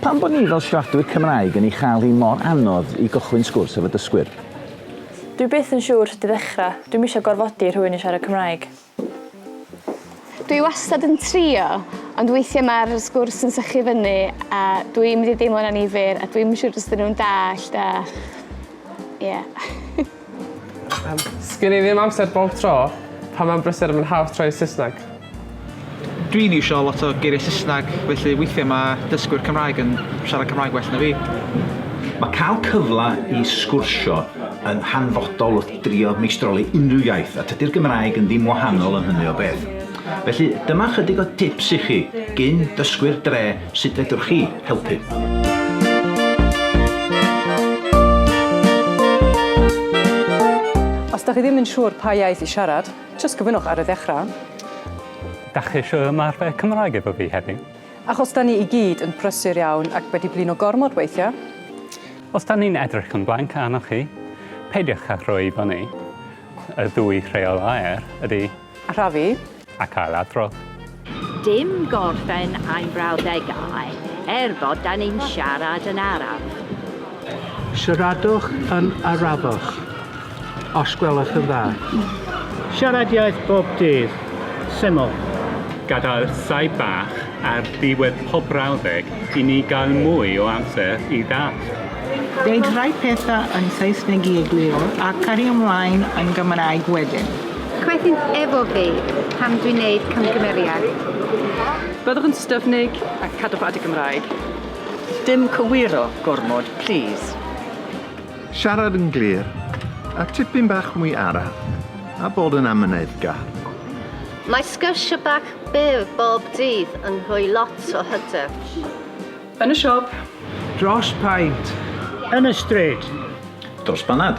Pam bod ni fel siaradwyr Cymraeg yn ei chael hi mor anodd i gychwyn sgwrs efo dysgwyr? Dwi byth yn siŵr sut i ddechrau, dwi'm isio gorfodi rhywun i siarad Cymraeg. Dwi wastad yn trio, ond weithiau mae'r sgwrs yn sychu fyny a dwi'n mynd i deimlo'n annifyr a dwi'm yn siŵr os 'dyn nhw'n dallt a ie. Sgen i ddim amser bob tro, pan mae'n brysur mae'n haws troi i Saesneg. Dwi'n iwsio lot o geiriau Saesneg, felly weithiau mae dysgwyr Cymraeg yn siarad Cymraeg well na fi. Mae cael cyfle i sgwrsio yn hanfodol wrth drio meistroli unrhyw iaith, a tydi'r Gymraeg yn ddim wahanol yn hynny o beth. Felly, dyma chydig o dips i chi, gyn dysgwyr dre Sut fedrwch chi helpu? da chi ddim yn siŵr pa iaith i siarad, jyst gofynnwch ar y ddechrau. Da chi eisiau ymarfer Cymraeg efo fi heddiw? Achos da ni i gyd yn prysur iawn ac wedi blino gormod weithiau. Os da ni'n edrych yn blanc arnoch chi, peidiwch â rhoi i fyny. Y ddwy rheol aer ydy A rhafu. A cael adrodd. Dim gorffen ein brawddegau, er bod da ni'n siarad yn araf. Siaradwch yn arafach, os gwelwch yn dda. Siarad iaith bob dydd. Syml. Gadael llai bach ar ddiwedd pob brawddeg i ni gael mwy o amser i ddallt. Deud rhai pethau yn Saesneg i egluro a cario mlaen yn Gymraeg wedyn. Cwethynt efo fi pan dwi'n neud camgymeriad. Byddwch yn styfnig a cadwch at y Gymraeg. Dim cywiro gormod plîs. Siarad yn glir, a tipyn bach mwy araf, a bod yn amyneddgar. Mae sgyrsiau bach byr bob dydd yn rhoi lot o hyder. Yn y siop. Dros paent. Yn y stryd. Dros banad.